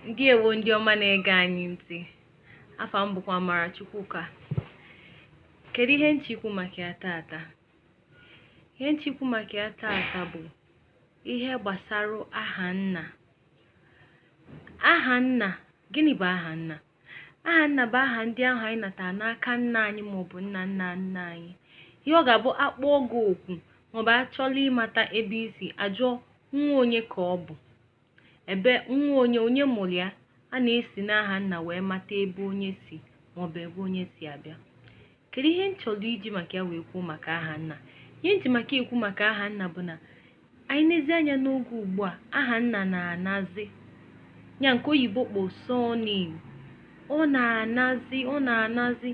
ndeewo ndị ọma na-ege anyị ntị afa m bụkwa Amarachukwuka kedu ihe m chọrọ ikwu maka ya tata ihe m chọrọ ikwu maka ya tata bụ ihe gbasara aha nna aha nna gịnị bụ aha nna Aha nna bụ aha ndị ahụ anyị natara n'aka nna anyị maọbụ nna nna nna anyị. Ihe ọ ga-abụ akpọọ gị oku maọbụ achọlọ ịmata ebe i si ajụọ nwa onye ka ọ bụ ebe nwa onye onye mụrụ ya a na-esi n'aha nna wee mata ebe onye si maọbụ ebe onye si abịa Kedu ihe m chọrọ iji maka ya wee kwuo maka aha nna? Ihe m ji maka ekwu maka aha nna bụ na anyị nezie anya n'oge ugbu a aha nna na-anazi ya nke oyibo kpọ surname ọ na-anazi ọ na-anazi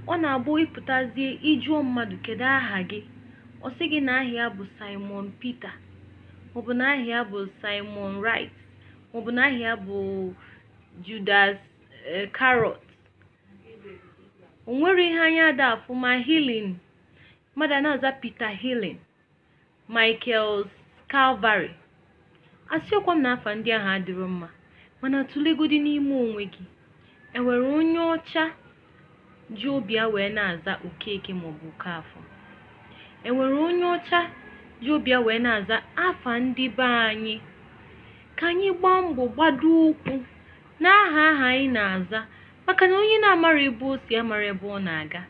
ọ na-abụ ị pụtazie ị jụọ mmadụ kedu aha gị ọ sị gị na aha ya bụ Simon Peter maọbụ na aha ya bụ Simon Wright maọbụ na aha ya bụ Judas eh, Carrot o nwere ihe anya ada afụ ma healing mmadụ a na-aza Peter healing Michael Calvary asịọkwa m na afa ndị ahụ adịrọ mma mana tụlegodi n'ime onwe gị enwere onye ọcha ji obi ya wee na-aza okeke maọbụ okafọ enwere onye ọcha ji obi ya wee na-aza afa ndị be anyị ka anyị gbaa mbọ gbado ụkwụ n'aha ahụ anyị na-aza maka na onye na-amarọ ebe o si amarọ ebe ọ na-aga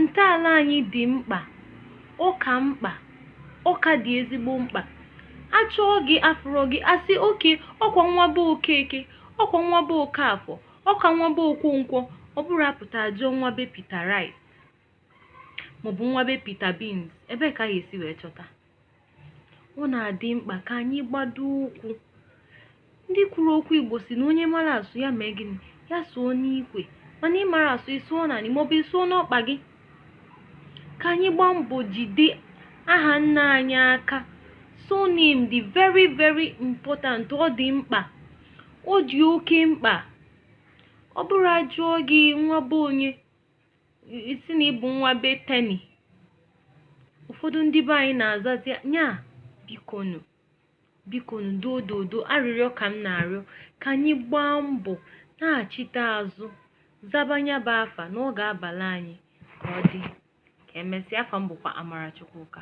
ntọala anyị dị mkpa ọ ka mkpa ọ ka dị ezigbo mkpa achọọ gị afụrọ gị asị okay ọkwa nwa be okeke ọkwa nwa be okafọ ọkwa nwa be okonkwọ ọ bụrụ apụta ajụọ nwa be Peter Rice maọbụ nwa be Peter Beans ebee ka a ga-esi wee chọta ọ na-adị mkpa ka anyị gbado ụkwụ ndị kwuru okwu igbo si na onye mara asụ ya mee gịnị ya sụọ n'ikwe mana ị marọ asụ ị sụọ n'anị maọbụ ị sụọ n'ọkpa gị ka anyị gbaa mbọ jide aha nna anyị aka surname dị very very important ọ dị mkpa ọ dị oke mkpa ọ bụrụ ajụọ gị nwa be onye ị sị na ị bụ nwa be teni ụfọdụ ndị be anyị na-azazi nya bikonu bikonu dododo arịrịọ ka m na-arịọ ka anyị gbaa mbọ nachite azụ zaba nya bụ afa na ọ ga-abala anyị ka ọ dị ka emesịa afa m bụkwa Amarachukwuka